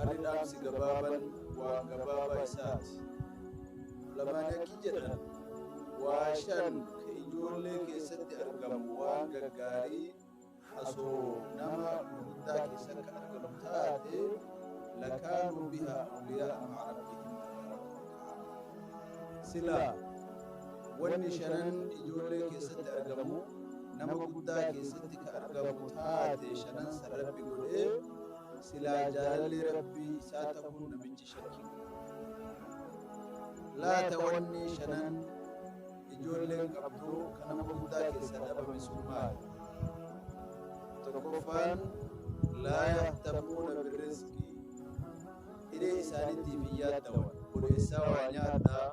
Ani dhaamsi gabaaban waan gabaabaa isaati. Ulamaan haqqi jedhan waa shan ka ijoollee keessatti argamu waan gaggaarii hasoo nama gurguddaa keessatti kan argamu taate lakaanuu bihaa awliyaa ma'a rabbihim tabaaraka wa ta'aala. Silaa wanni shanan ijoollee keessatti argamu nama guddaa keessatti ka argamu taate shanan san rabbi godhee silaa jaalalli rabbii isaa ta'uun namichi shakkii laata wanni shanan ijoolleen qabdu kan nama hundaa keessaa dhabame sun maali tokkoffaan laa yahtamuuna birrizqi hiree isaaniitiif hin yaaddawan bodeessaa waa nyaadhaa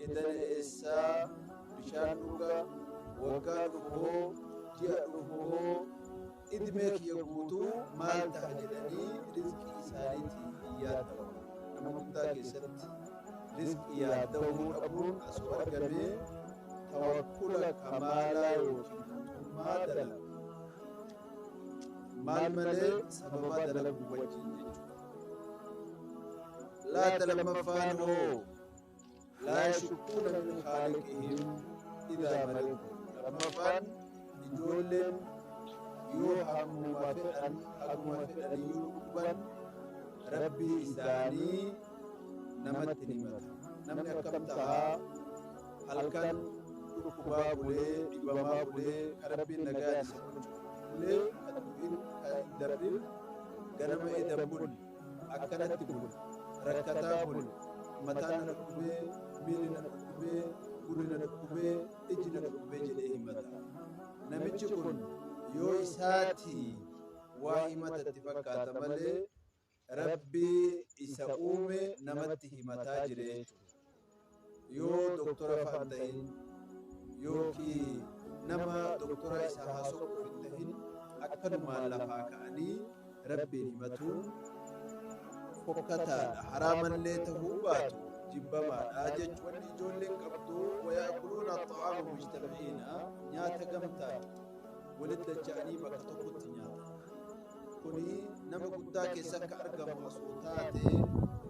Edane eessaa bishaan dhuga waggaa dhufu hoo ji'a dhufu hoo idmee kiyya guutuu maal taha jedhanii rizqii isaaniitiif hin yaadda'u nama guddaa keessatti rizqii yaadda'uu dhabuun asoo argamee tawakkula kamaalaa yookiin guutummaa dalagu maal malee sababa dalagu wajjin jechuudha laata lammaffaan hoo laa yashukkuuna min khaaliqihim idaa maridu lammaffaan ijoolleen yoo hammuma fedhan haguma fedhaniyyuu dhukkuban rabbii isaanii namatti hin himatan namni akkam tahaa halkan dhukkubaa bulee dhibamaa bulee ka rabbiin nagaa isa bulchu bulee ka dubbiin ka hin dabrin ganama edan buli akkanatti bula rakkataa bula mataa na dhukkubee miilli na dhukkubee gurri na dhukkubee ijji na dhukkubee jedhee himata namichi kun yoo isaati waa himatatti fakkaata malee rabbii isa uume namatti himataa jira jechuudha yoo doktora faan ta'in yookii nama doktora isa haasoquuf hin ta'in akkanumaan lafaa ka'anii rabbiin himatuun fokkataadha haraamallee ta'uu baatu jibbamaadha jechu wanni ijoolleen qabdu wayaakuluuna xa'aama mujtama'iina nyaata gamtaa walitti dacha'anii bakka tokkotti nyaata kuni nama guddaa keessa akka argamu osoo taate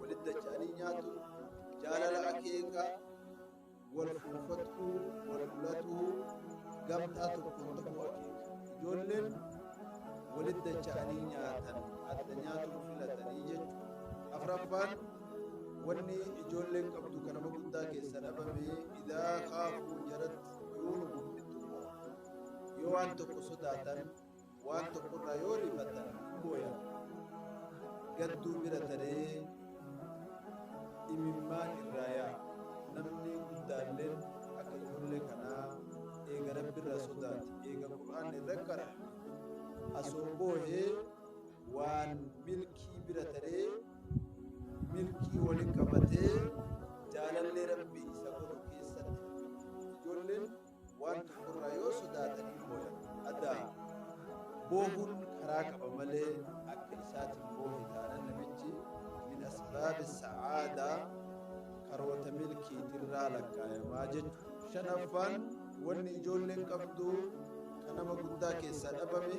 walitti dacha'anii nyaatu Jaalala akeeka wal fuunfatuu, wal fulatuu, gamtaa tokkoon ta'uu akeeka. Ijoolleen walitti dacha'anii nyaatan adda nyaatuun filatanii jechuudha. Afraffaan wanni ijoolleen qabdu kan nama guddaa keessa dhabame idaa kaafuu jaratti yoo nu guddiftu yoo waan tokko sodaatan Waan tokko irraa yoo rifattan booya. Gadduu bira taree imimmaan irraa yaa. Namni guddaalleen akka ijoollee kanaa eega rabbi irraa sodaate eega qur'aan irra qara asoo boohee waan milkii bira taree milkii wali qabatee jaalallee rabbi isa godhu keessatti ijoolleen Waan tokkorraa yoo sodaatanii booyan. Addaam. Boohuun karaa qaba malee akka isaatiin boohe taanan namichi min asbaabi sa'aadaa karoota milkiitirraa lakkaayamaa jechuudha. Shanaffaan wanni ijoolleen qabdu kan nama guddaa keessaa dhabame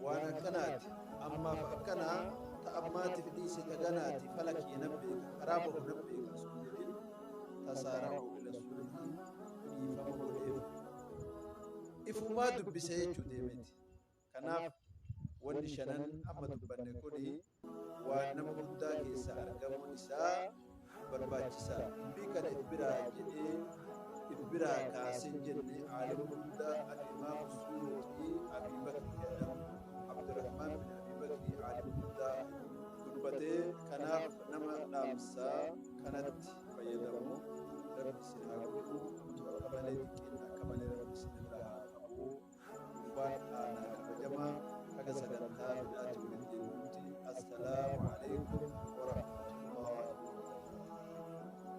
Waan akkanaati, ammaaf akkana, ta ammaatiif dhiisi ta ganaati, fala kiyya nan beeka, karaa bahu nan beeka osoo hin jedhin, tasaa rakkoo ila suulihi dhiifama godheef. Ifumaa dubbisa jechuu deemeti. Kanaaf wanni shanan amma dubbanne kuni waan nama guddaa keessaa argamuun isaa barbaachisaa dubbii kana if biraa jedhee if biraa kaaseen jenne aalima guddaa al-imaam suyuuxii abii bakri jedham abdurrahmaan bin abii bakri aalima guddaa dubbatee kanaaf nama dhaamsaa kanatti fayyadamu rabbi isin haa godhu utuu akka malee xiqqeen akka malee rabbi isin irraa haa qabu Abbaan Aanaa Kabajamaa Baga Sagantaa Birraatti Waliin Deebi'utti Assalaamu Aleykum Warahmatullahi Wabarakaatuh.